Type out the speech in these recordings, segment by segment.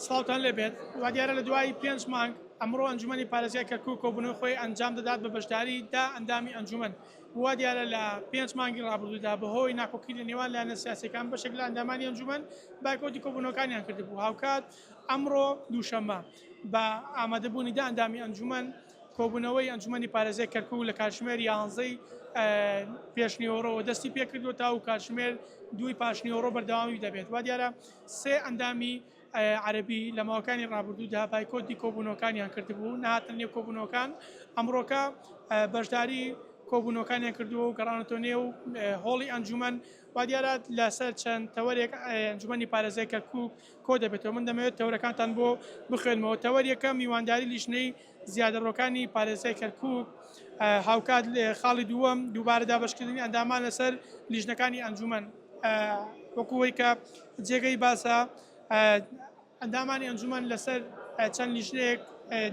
سڵاوتان لێ بێت، وادیارە لە دوای پێنج مانگ ئەمڕۆ ئەنجومەنی پارێزگای کەرکوک کۆبوونەوەی خۆی ئەنجام دەدات بە بەشداری دە ئەندامی ئەنجومەن و وادیارە لە پێنج مانگی ڕابردوودا بەهۆی ناکۆکی لە نێوان لایەنە سیاسیەکان بەشێک لە ئەندامانی ئەنجومەن بایکۆتی کۆبوونەوەکانیان کردبوو هاوکات ئەمڕۆ دووشەممە بە ئامادەبوونی دە ئەندامی ئەنجومەن کۆبوونەوەی ئەنجومەنی پارێزگای کەرکوک لە کاتژمێر یانزەی پێشنیوەڕۆوە دەستی پێکردووە تاوەکو کاتژمێر دووی پاشنیوەڕۆ بەردەوامی دەبێت وادیارە سێ ئەندامی عەرەبی لە ماوەکانی ڕابردوودا بایکۆتی کۆبوونەوەکانیان کردبوو، نەهاتنە نێو کۆبوونەوەکان، ئەمڕۆکە بەشداری کۆبوونەوەکانیان کردووە و گەڕاونەتەوە نێو هۆڵی ئەنجوومەن، وا دیارە لەسەر چەند تەوەرێک ئەنجوومەنی پارێزگای کەرکووک کۆدەبێتەوە، من دەمەوێت تەوەرەکانتان بۆ بخوێنمەوە، تەوەر یەکەم، میوانداری لیژنەی. زیادەڕۆکانی پارێزگای کەرکووک، هاوکات خاڵی دووەم دووبارە دابەشکردنی ئەندامان لەسەر لیژنەکانی ئەنجوومەن وەکو ئەوەی کە جێگەی باسە ئەندامانی ئەنجوومەن لەسەر چەند لیژنەیەک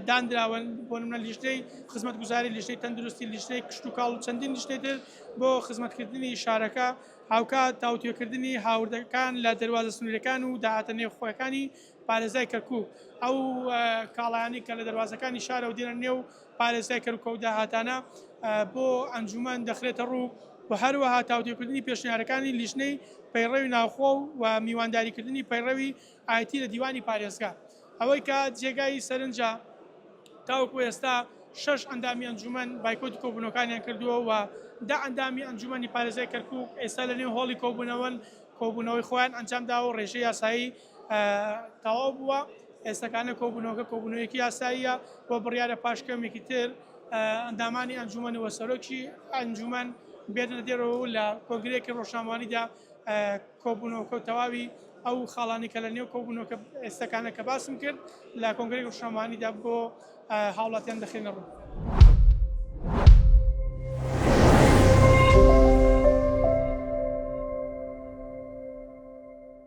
دانراون بۆ نمونە لیژنەی خزمەتگوزاری لیژنەی تەندروستی لیژنەی کشتتوکاڵ و چەندین لیژنەی تر بۆ خزمەتکردنی شارەکە هاوکات تاوتوێکردنی هاوردەکان لە دەروازە سنوورەکان و داهاتە نێوخۆیەکانی پارێزگای کەرکوک ئەو کاڵایانەی کە لە دەروازەکانی شارەوە دێنە نێو پارێزگای کەرکوک و داهاتانە بۆ ئەنجومەن دەخرێتە ڕوو و هەروەها تاوتێکردنی پێشنیارەکانی لیژنەی پەیڕەوی ناوخۆ و میوانداریکردنی پەیڕەوی ئایتی لە دیوانی پارێزگا ئەوەی کە جێگای سەرنجە تاوەکو ئێستا شش ئەندامی ئەنجومەن بایکۆتی کۆبوونەکانیان کردووە و دا ئەندامی ئەنجومەنی پارێزای کەرکوک ئێستا لە نێو هۆڵی کۆبوونەوەن کۆبوونەوەی خۆیان ئەنجام داوە و ڕێژەی یاسایی تەواو بووە ئێستەکانە کۆبوونەوەکە کۆبوونەوەیەکی یاساییە بۆ بڕیارە پاش کەمێکی تر ئەندامانی ئەنجومەن و سەرۆکی ئەنجومەن بێنە دێرەوە لە کۆنگرێکی ڕۆژناموانیدا کۆبوونەوەکە و تەواوی ئەو خاڵانی کە لە نێو کۆبوونەوەکە ئێستەکانە کە باسم کرد لە کۆنگرێک ڕۆژناموانیدا بۆ هاوڵاتیان دەخێنە ڕوو.